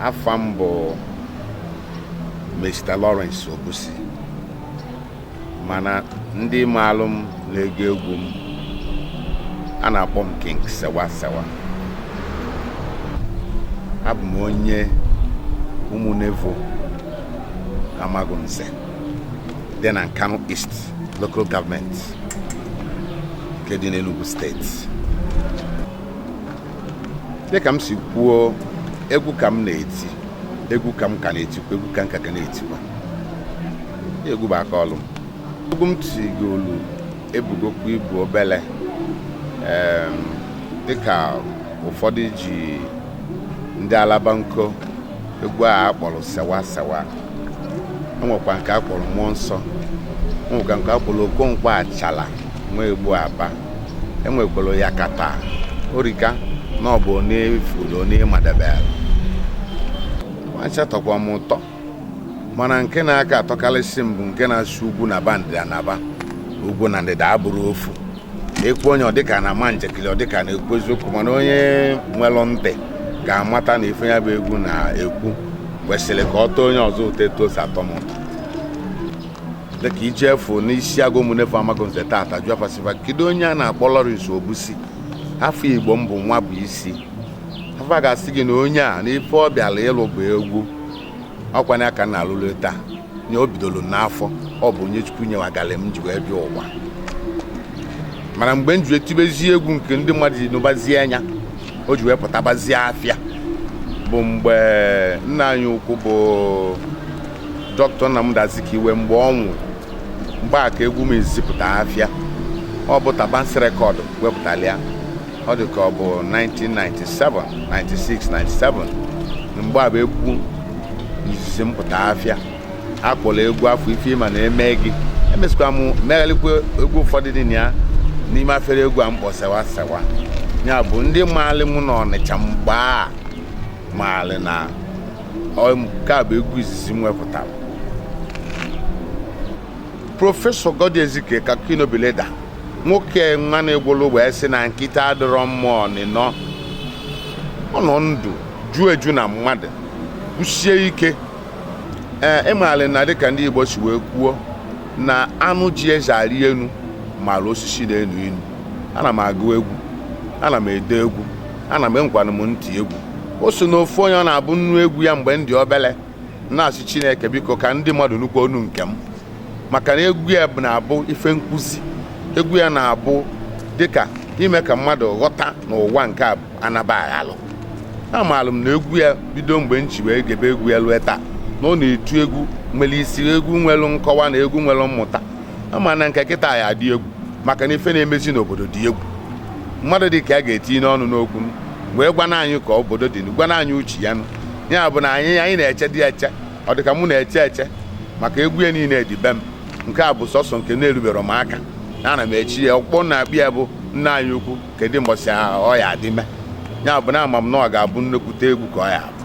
afa m bụ Mr. Lawrence Obusi mana ndị maalụ m na-ege egwu m a na-akpọ m King Sewa Sewa abụ m onye Umunevo Amagunze dị na Nkanu East Local Government nke dị n'Enugu steeti dịka m si kwuo egwu ka m na-eti egwu ka m ka na-etikwa egwu ka m ka ga na-etikwa egwu bụ aka ọlụ m egwu m tigolu ebugokwa ibu obele em, dịka ụfọdụ ji ndị Alabanko egwu a a kpọlụ sewa sewa enwekwa nke a kpọlụ Mmụọ Nsọ enwekwa nke a kpọlụ Okonkwo Achala nwa egbu aba enwekwalụ yakata orika na ọ bụ onye fụlụ onye ma dabele fa ncha tọkwa m ụtọ mana nke na-aka atọkalịsị m bụ nke na-asụ ugwu naba ndịda naba ugwu na ndịda abụrụ ofu egwu onye ọ dịka a na-ama njakịlị ọ dịka a na-ekwu eziokwu mana onye nwelụ ntị ga-amata na ife ya bụ egwu na-ekwu kwesịlị ka ọ tọọ onye ọzọ ụtọ etu o si atọ m dịka i jee fu n'Isiagụ Umunevo Amagunze taata jụọ fa sị fa kedu onye a na-akpọ Lawrence Obusi afa Igbo m bụ Nwabuisi fa ga-asị gị na onye a na ife ọ bịalụ ịlụ bụ egwu ọ kwanụ ya ka m na-alụ lue taa nye o bidolu n'afọ ọ bụ onyinye Chukwu nyewagalị m ji wee bịa ụwa mana mgbe m ji wee tibezie egwu nke ndị mmadụ ji nụbazie nya o ji wee pụtabazie afịa bụ mgbe nna anyị ukwu bụ Dr. Nnamdi Azikiwe mgbe ọ nwụrụ mgbe a ka egwu m ji pụta afịa ọ bụ Tabansi Record wepụtalị ya ọ dị ka ọ bụ 1997 96 97 mgbe a bụ egwu izizi m pụta afịa a kpọlụ egwu afụ ife ị ma na-eme gị emesịkwa m meghalịkwa egwu ụfọdụ dị na ya n'ime afere egwu a m kpọ sewa sewa ya bụ ndị maalị m n'Ọnịcha mgbe a maalị na nke a bụ egwu izizi m wepụtara prọfesọ Goddy Ezike khaki no be leather nwoke nwa na-egwolu wee sị na nkịta adịrọ mma ọnịnọ ọ nọ ndụ juo eju na mmadụ kwụsie ike ee ị maalị na dịka ndị Igbo si wee kwuo na anụ ji eze arị enu maalị osisi na-enu inu ana m agụ egwu ana m ede egwu ana m enwekwanụ m ntị egwu o so na ofu onye ọ na-abụ m nụ egwu ya mgbe m dị obele na-asị chineke biko ka ndị mmadụ nụkwuo onu nke m maka na egwu ya na-abụ ife nkuzi egwu ya na-abụ dịka ime ka mmadụ ghọta n'ụwa nke a anaba aghalụ amaalụ m na egwu ya bido mgbe m ji wee gebe egwu ya lue taa na ọ na-etu egwu nwere isi egwu nwere nkọwa na egwu nwere mmụta ama m na nke kịta ya-adị egwu maka na ife na-emezi n'obodo dị egwu mmadụ dị ka ya ga-etinye ọnụ n'okwu wee gwana anyị ka obodo dị gwana anyị uche ya nụ ya bụ na anyị anyị na-eche dị eche ọ dịka mụ na-eche eche maka egwu ya niile dị be m nke a bụ sọsọ nke na-erubero m aka ana m eche ya ọkpọ na-abịa ya bụ nna anyị ukwu kedu mbọsị ọ ya adị me ya bụ na ama m na ọ ga-abụ nnekwute egwu ka ọ ya abụ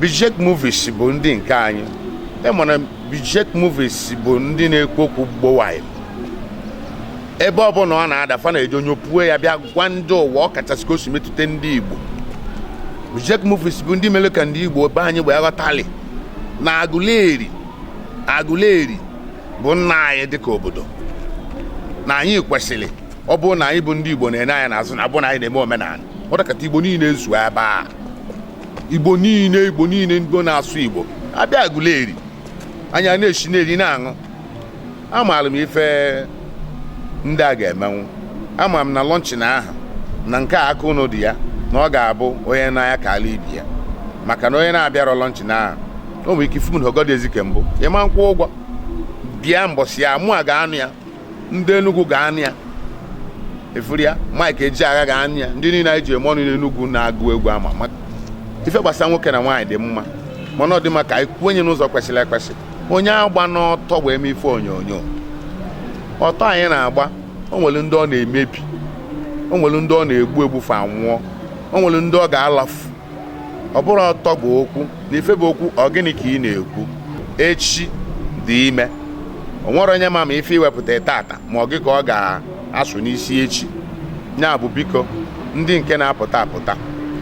Bijek Movies bụ ndị nke anyị e mana Bijek Movies bụ ndị na-ekwu okwu gbowaị ebe ọbụla ọ na-ada fa na-eji onye pue ya bịa gwa ndị ụwa ọ kachasị ka o si metụta ndị Igbo Bijek Movies bụ ndị mere ka ndị Igbo be anyị wee ghọtali na Aguleri bụ nna anyị dịka obodo na anyị kwesịrị ọ bụrụ na anyị bụ ndị Igbo na-ene anya n'azụ na ọ bụrụ na anyị na-eme omenala ọ dịkata Igbo niile ezuo ebe a igbo niile igbo niile ndị na-asụ igbo abịa agụleri anyị ana-esi na-eri na-aṅụ amaalụ m ife ndị a ga-emenwu ama m na launching ahụ na nke a aka ụnụ dị ya na ọ ga-abụ onye n'anya ka ala ibe ya maka na onye na-abịarọ launching ahụ o nwere ike ifu m na ogodị ezike mbụ ịma nkwụ ụgwọ bịa mbọsị ya mụ a ga-anọ ya ndị Enugu ga-anọ ya efuru ya Mike Ejiagha ga-anọ ya ndị niile anyị ji eme ọnụ n'Enugu na-agụ egwu ama m na ife gbasara nwoke na nwaanyị dị mma mana ọ dị mma ka anyị kwuo ya n'ụzọ kwesịrị ekwesị onye agbana ọtọ wee mee ife onyonyo ọtọ anyị na-agba o nwere ndị ọ na-emebi o nwere ndị ọ na-egbu egbu fa nwụọ o nwere ndị ọ ga-alafu ọ bụrọ ọtọ bụ okwu na ife bụ okwu ọ gịnị ka ị na-ekwu echi dị ime o nwerọ onye ma ma ife i wepụta tata ma ọ gị ka ọ ga-asụ n'isi echi ya bụ biko ndị nke na-apụta apụta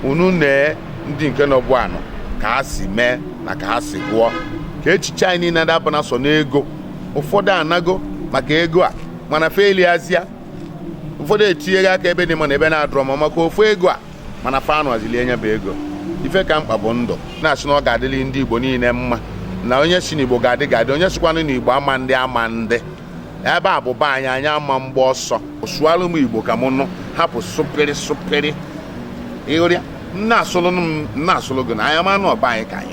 unu nee ndị nke nọbụ anọ ka ha si mee na ka ha si gụọ ka echiche anyị niile adabana sọ n'ego ụfọdụ anago maka ego a mana fa eliazia ụfọdụ etinyego aka ebe dị mma na ebe na-adịrọ mma maka ofu ego a mana fa anọzị lie nya bụ ego ife ka mkpa bụ ndụ na-asị na ọ ga-adịli ndị igbo niile mma na onye sị na igbo ga-adị ga-adị onye sịkwanụ na igbo ama ndị ama ndị ebe a bụ be anyị anyị ama mgba ọsọ sụalụ m igbo ka m nụ hapụ sụpịrị sụpịrị ị hụrịa na-asụlụ m m na-asụlụ gị na anyị ama na ọ be anyị ka anyị